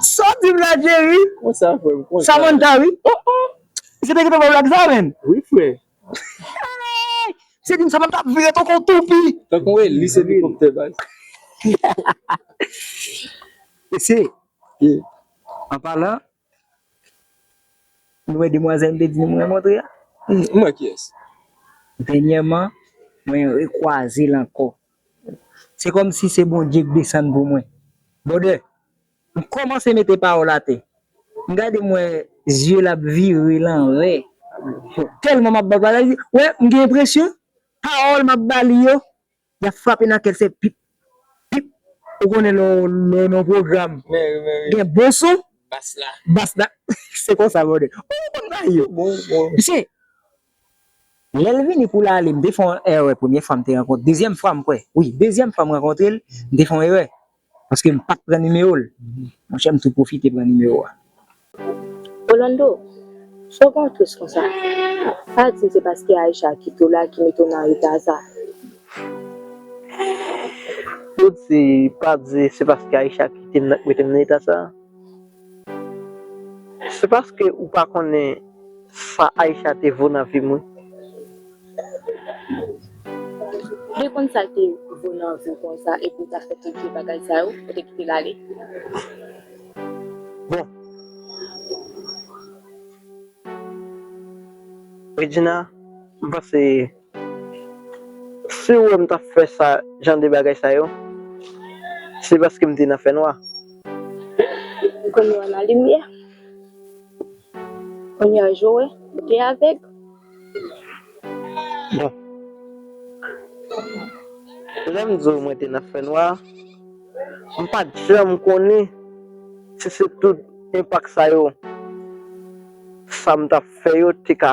Saw dim la Jerry? Konsa frè m konsa. Samantha wi oh oh. Se te kite fè blag sa menn? Wi frè. Se dim Samantha ap vire tankou yon toupi. Tankou yon elis elikoptè baz. Mesye, anpalan. Nou wè demwazèl m te di nou mwen montre a? M wè kiyès. Dènyèman, mwen rekwaze l ankò. Se kòmsi se Bondye k desann pou mwen. Bwòdè, m kòmanse mete pawòl atè. M gade m wè zye l ap vire lanvè. Tèlman m ap ba l bagay, m gen enpresyon pawòl m ap ba li yo Yap frape nan kèl se pip pip. Ou konnen lè w nan yon pwogram gen bon son bass la se konsa brother oh ou konn bagay yo mesye lè l vini pou l ale m te fè yon erè premye fwa m te rankontre dezyèm fwa m kwè wi dezyèm fwa m rankontre l m te fè yon erè Paske m pat pran nimewo l. Monchè m tou pwofite pran nimewo a. Orlando, Sa w gen yon twist konsa? Pa di m se paske Aïcha kite w la ki mete w nan reta sa. Ou di pa di se paske Aïcha kite m nan ki mete m nan eta sa? Se paske ou pa konnen sa Aïcha te vo nan vim wi. Ou te konn sal te vo nan viw konsa epi ou ta fè tout vye bagay sa yo, ou te kitel ale. Bon Regina m panse. Si ou wè m t ap fè sa jan de bagay sa yo, se paske m te nan fènwa. M konnen w nan limyè. Kounye a je w wè, ou te avèg. Bon, lè m di w mwen te nan fènwa, m pa t janm konnen si se tout enpak sa yo sa m t ap fè yo te ka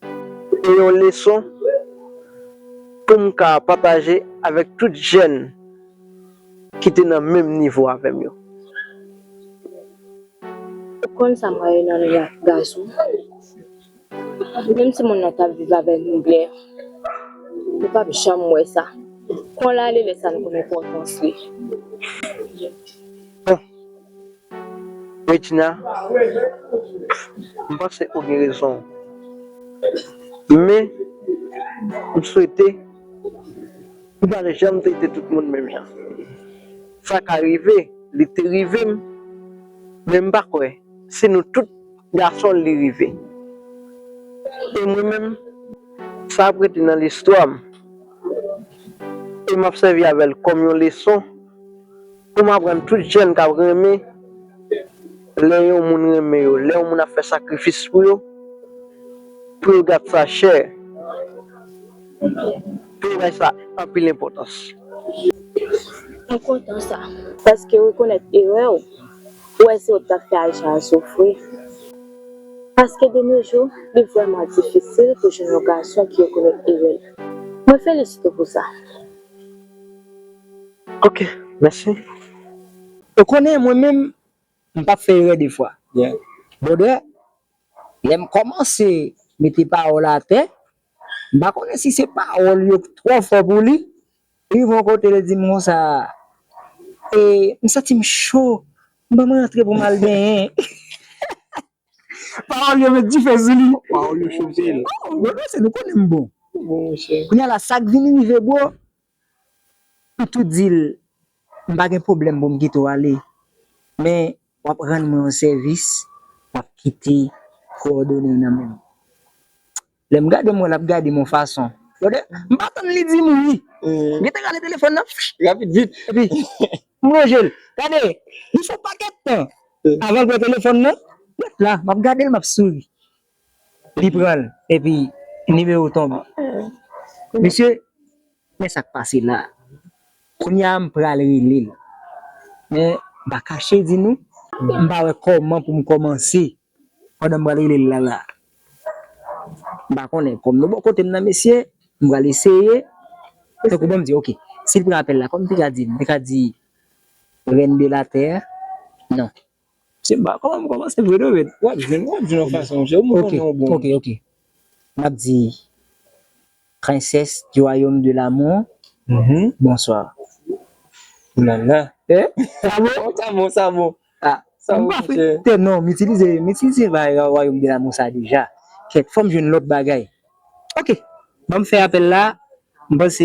Se te yon leson pou m ka pataje avèk tout jèn ki te nan menm nivo avè m yo. Ou konn sa mwen renmen nan gason? Menm si moun nan ta viv avè nou byen, nou pap janm wè sa. Kon l ale lè sa n konn enpòtans li. Bon, Regina, M panse ou gen rezon. Men, m swete ou pa janm trete tout moun menm jan. Sa ka rive, li te rive m, men m pa kwè se nou tout gason li rive. E mwen menm, sa ap rete nan listwa m e m ap sèvi avè l kòm yon leson. Pou m aprann tout jèn k ap renmen lè yon moun renmen yo, lè yon moun ap fè sakrifis pou yo, pou yo gad sa chè, pou yo bay sa anpil enpòtans. M kontan sa, paske rekonèt erè w, ou wè se ou k t ap fè Aysha soufri. Paske de no jou, li vrèman difisil pou jwenn yon gason ki rekonèt erè l. Mwen felisite w pou sa. Ok mèsi. Ou konnen mwen menm m pap fè erè de fwa. Brother lèm kòmanse mete pawòl atè m pa konnen si se pawòl yo k twò fò pou li li rive yon kote li dim konsa e m santim cho m banm rantre pou m al benyen pawòl yo met dife sou li oh brother se nou konnen m bon kounya la sak vin rive bro M tou di l m pa gen pwoblèm pou m kite w ale, men w ap rann mwen yon sèvis, w ap kite kowòdone w nan men m. Lè m gade m wè l ap gade m yon fason. Gade, m pa tann li di m wi, m gentan rale telefòn nan rapid vit, epi m lonje l. Gade, li fè yon pakèt tan avan l pran telefòn nan, m ret la, m ap gade l, m ap souri. Li pranl epi nimewo tonbe. Mesye men sak pase la kounya m pral relel men m pa kache di nou m pa wè kòman poum kòmanse pandan m pral relel la la m pa konnen kòm nou bò kotem nan mesye m pral eseye tankou banm di ok sil pran apèl la kòm m te ka dil m te ka di reine de la terre nan Se ba koman m komanse vre do red. Wap jwenn wap jwenn yon fason se ou m konnen ou bon. Ok ok map di princesse du royaume de l'amour bonsoir. Oulala eeh sa bon sa bon sa bon chè. Non m itilize m itilize royaume de l'amour sa deja kèt fòm jwenn lòt bagay ok banm fè apèl la m panse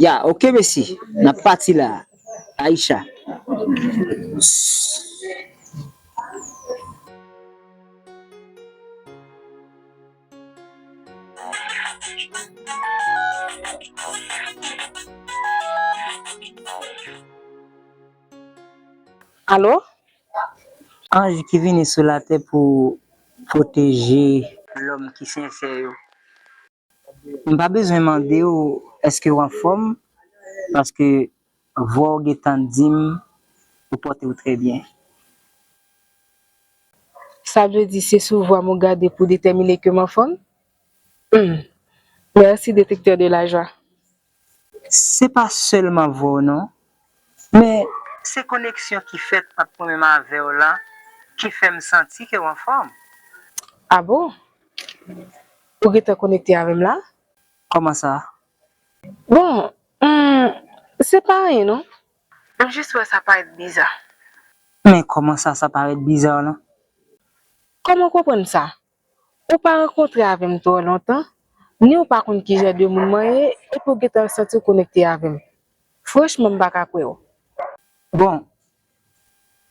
Ya ok mesi nap pati la Aïcha. Alo. Anj ki vini sou latè pou pwoteje lòm ki sensè yo. M pa bezwen mande w èske w anfòm paske vwa w gentan di m ou pòte w trè byen. Sa vle di se sou vwa m ou gade pou w detèmine ke m anfòm? Humm! Mèsi detektè de lajwa. Se pa selman vwa w non. Men se koneksyon ki fèt ant mwen menm avè w lan ki fè m santi ke w anfòm. A bon? Ou gentan konekte avè m la? Kòman sa? Bon, humm, se pa anyen non. M jis wè sa parèt biza. Men kòman sa sa parèt biza lan? Kòman w konprann sa? Ou pa rankontre avè m twò lontan, ni ou pa konn ki jan de moun mwen ye, epi ou gentan santi w konekte avè m. Franchman m pa ka kwè w. Bon,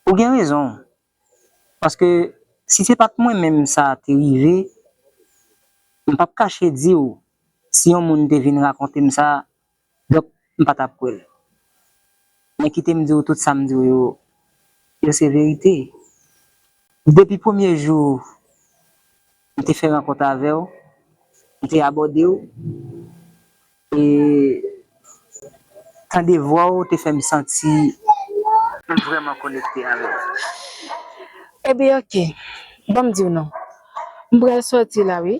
ou gen rezon w. Paske si se pa t mwen menm sa te rive, m p ap kache di w si yon moun te vin rakonte m sa, Donk m pa tap kwè l. Men kite m di w tout sa m di w yo, yo se verite. Depi premye jou m te fè rankont avè w, m te abòde w e tande vwa w te fè m santi m vrèman konekte avè w. Eben ok, ban m di w non. M pral sòti la wi.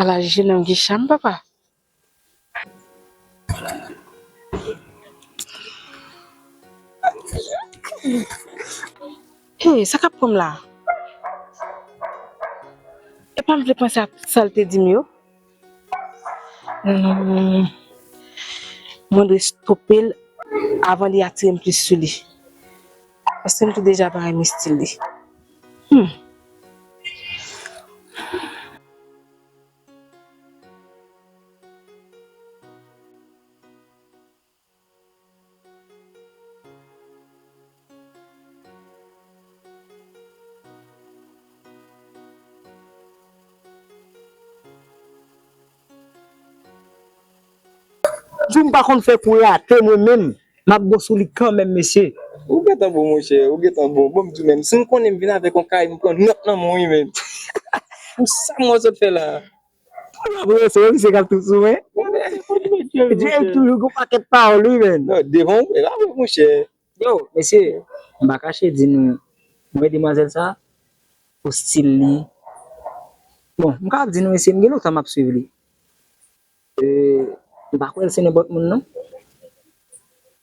Ala jenòm ki cham papa. Hey sa kap pranm la? Epam vle panse ak sal te dim yo. Mwen dwe stope l avan li atire m plis sou li. Paske m te deja pa renmen stil li. Humm. Jou m pa konn fè kou rate mwen menm m ap bon sou li kanmenm mesye. Ou gentan bon monchè, ou gentan bon. Bon m di w menm, si m konnen m vin avèk yon kay m pran nòt nan men w wi menm. Pou sa m wè w sot fè la a. Pou la prese yo misye kap tou sou mwen. Drake toujou gon paket pawol wi menn. Non devan ou la vre monchè. Yow mesye mpa kache di nou mwen wè demwazèl sa pou stil li bon mka ap di nou mesye mgen lontan map swiv li mpa kwèl se nenpòt moun non.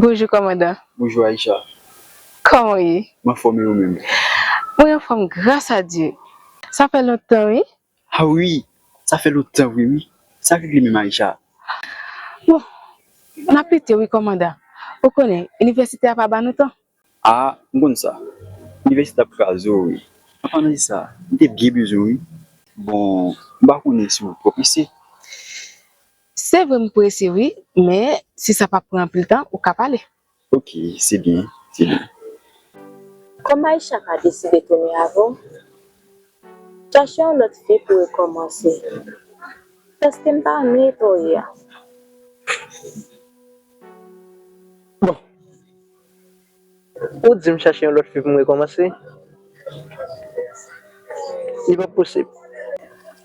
Bonjou kòmandan. Bonjou Aïcha. Kòman ou ye? M anfòm e ou menm? Mwen anfòm gras a Dye. Sa fè lontan wi. Ah ui sa fè lontan vre ui sa regle menm Aïcha. Bon N ap lite wi kòmandan ou konnen inivèsite a pa ba nou tan. Ah m konn sa inivèsite ap kraze w wi an palan de sa m te byen bezwen w wi. Bon m pa konnen si w twò prese. Se vre m prese wi men si sa pa pran anpil tan ou ka pale. Ok se byen se byen. Kòm Aïcha pa deside tounen avè w, chache yon lòt fi pou rekòmanse. Paske m pa renmen eta w ye a. Bon, ou di m chache yon lòt fi pou m rekòmanse? Li pap posib.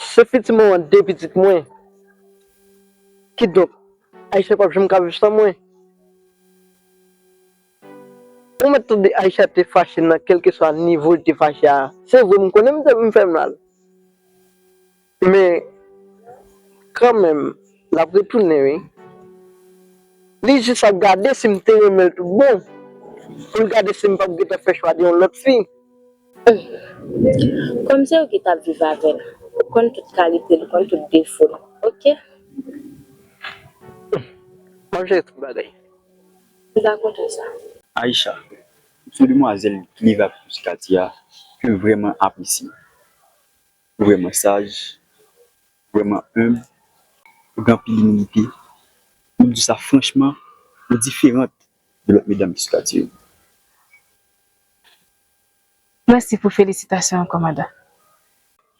Se pitit mwen an de pitit mwen. Kidonk, Aïcha pap janm ka viv san mwen. Ou mèt tande Aïcha te fache nan kèlkeswa nivo li te fache a. Se vre m konnen m fè mal. Men, kanmenm, l ap retounen wi. Li jis ap gade si m te renmen l tout bon. Pou l gade si m pap gentan fè chwa de yon lòt fi. Humm kòm se ou ki tap viv avèl ou konn tout kalitel ou konn tout defol ok. Humm map jere tout bagay. M pa kontan sa. Aïcha, sou demwazèl ki leve ak Mesye Katy a kem vrèman apresye. Ou vrèman saj, ou vrèman humble, ou gen anpil imilite, map diw sa franchman ou diferant de lòt medam Mesye Katy yo. Mèsi pou felisitasyon an kòmandan.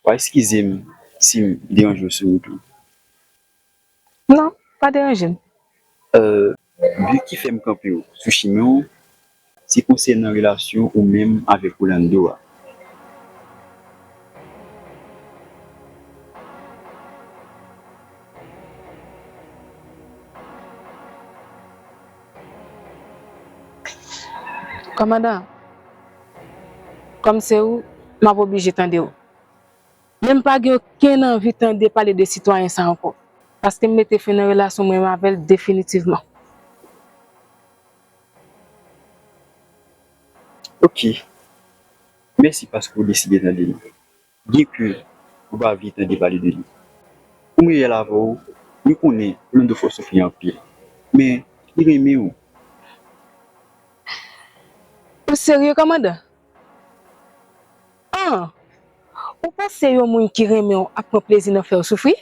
Wa eskize m si m deranje w sou wout lan. Non, pa deranje m. Bi ki fè m kanpe w sou chimen w se konsènan relasyon ou menm avèk Rolando a. Kòmandan, Kòm se ou, m ap oblije tande ou. Men m pa gen okenn anvi tande pale de sitwayen sa ankò, paske m mete fen nan relasyon mwen avè l definitivman. Ok. Mèsi paske ou deside tande m. Byen ke ou pa vle tande pale de li. Poum reyèl avèw, mwen konnen Rolando fè w soufri anpil. Men, li renmen ou. Ou serye kòmandan? An! Ou panse yon moun ki renmen w ap pran plezi nan fèw soufri?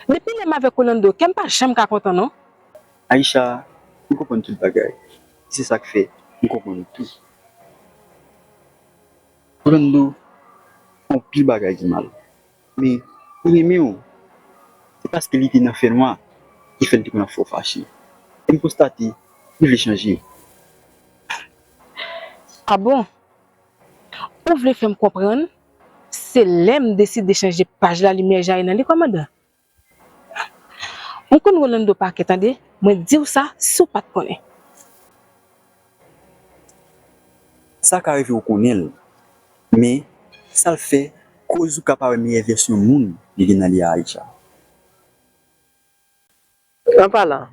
Depi lèm avèk Rolando kèm pa janm ka kontan non. Aïcha, mwen konprann tout bagay. E se sak fè mwen konprann ou tou. Brando fè yon pil bagay ki mal men li renmen w se paske li te nan fènwa ki fè l te konn ap fè w fache e m konstate li vle chanje. Ah bon? Ou vle fè m konprann se lè m deside chanje paj la limyè jayi nan li kòmandan? Mwen konn Rolando pa kè tande mwen diw sa si w pat konnen. Sa ka rive ou konnen l men sa l fè koz ou ka pa wè meyè vèsyon moun li gen nan li a Aïcha. An palan,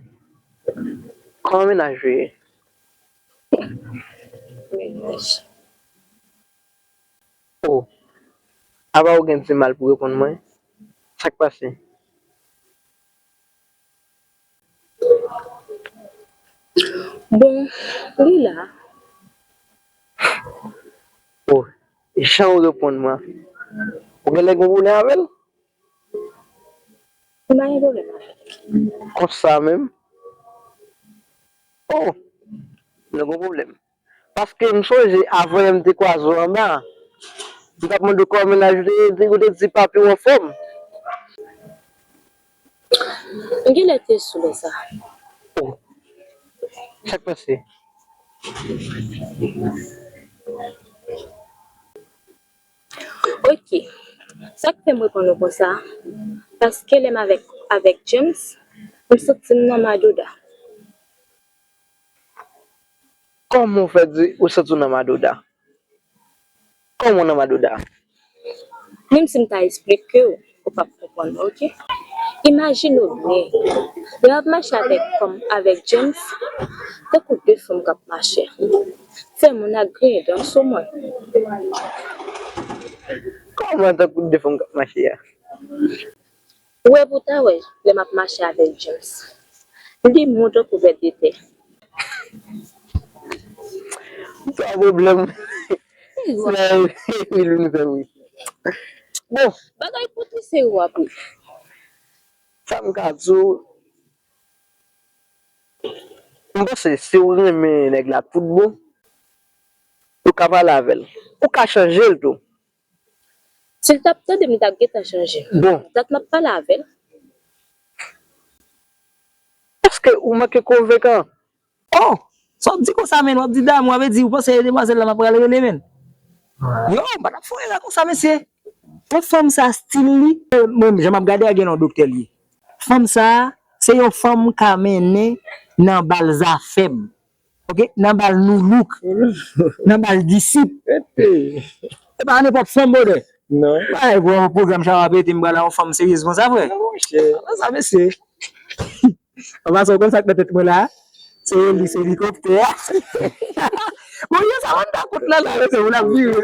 kòman mennaj ou ye? Mennaj. O! Apa ou gen dimal pou reponn mwen? Sak pase? Bon, li la. O! Jan ou reponn mwen an. Ou genlè gen pwoblèm avè l? M pa gen pwoblèm avè l. Konsa menm? O! Nou gen pwoblèm. Paske m sonje avan yon m te kwaze w anba, m t ap mande w kòman mennaj ou te ye, ou te di pa pi anfòm. M genlè te sou lè sa. O! Sa k pase? Ok. Sa k fè m reponn ou konsa, paske lè m avèk avèk James, m santi m nan madouda. Kòman ou fè di ou santi w nan Madoda? Kòman w nan Madoda? Menm si m ta esplike w, ou pap konprann mwen ok. Imajine w byen, lè w ap mache avèk kò m avèk James, tankou de fanm k ap mache. Fè moun ak griyen dan sou mwen. Kòman tankou de fanm k ap mache a? Ou wè pou ta wè lè map mache avèl James li gen mou to kou vèt de tè. Ou pa pwoblèm men epil vin fè bri bon. Bagay poutine se ou wap ri. Sam ka di w m panse siw renmen nèg la tout bon ou ka pale avèl ou ka chanjel tou Si l tap tandem li tap gentan chanje dat map pale avel. Paske ou manke konvenkan. Oh sa w di konsa menn wap di damou a vle di ou panse e demwazel la map pral rele menn yow m pa tap fon erè konsa mesye. Bon fanm sa stil li. Mwen menm jan map gade a gen lè yon doktè li ye fanm sa se yon fanm ka mennen nan bal zafem. ok nan bal nu look nan bal disip se pa nenpòt fanm brother bay bro program sa va pete m pral a yon fanm seryez konsa frè konbyen sa mesye anvan sa w konn sak nan tèt mwen la se li se li kòk tè bon yo sa wanda kout la la mesye moun ap vire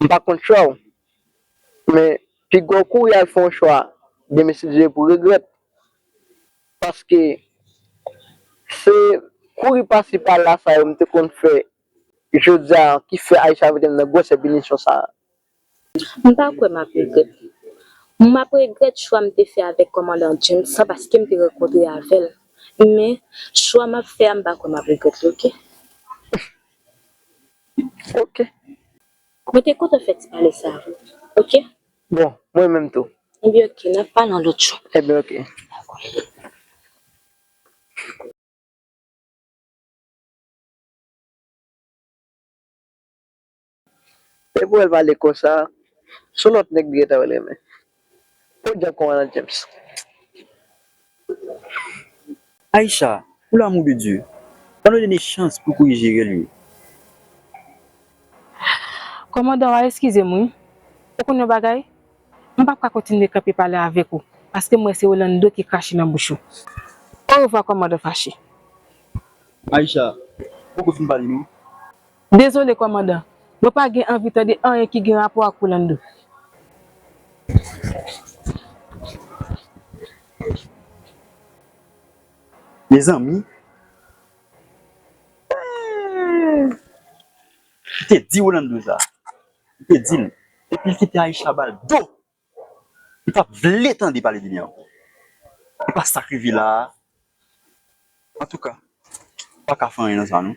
m pa konn chòw men. Pigaw kouri al fè yon chwa demen si Dieu vle pou regrèt paske se kouri pasi pala sa yo m te konn fè jodia ki fè Aisha metem nan gwòsè pinisyon sa. M pa kwè map regrèt li. Map regrèt chwa m te fè avèk kòmandan James lan paskem te rankontre avèl men chwa map fè a m pa kwè map regrèt li ok. Ok. Mwen te kontan fè ti pale sa avèw ok. Bon mwen menm tou. Ebyen ok nap pale yon lòt jou. Ebyen ok. Epou el pale konsa. Son lot neg li gentan renmen. Pot dent kon Ronald James. Aïcha pou l'amour de Dieu ban nou Nene chans pou kouri jerel ui. Kòmandan wa eskizem wi ou konn yon bagay m pap ka kontinye kanpe pale avèk ou paske m wè se Rolando ki krache nan bouch ou orevwa kòmandan fache. Aïcha m poko fin pale non. Dezole kòmandan, mwen pa gen anvi tande anyen ki gen rapò ak Rolando. Mezanmi eehh! Li te di Rolando sa. Li te di l epi l kite Aïcha ba l do! Mpa vle tande pale de li ankò. Li pa sak rive la a. Antouka, m pa ka fè anyen nan sa non.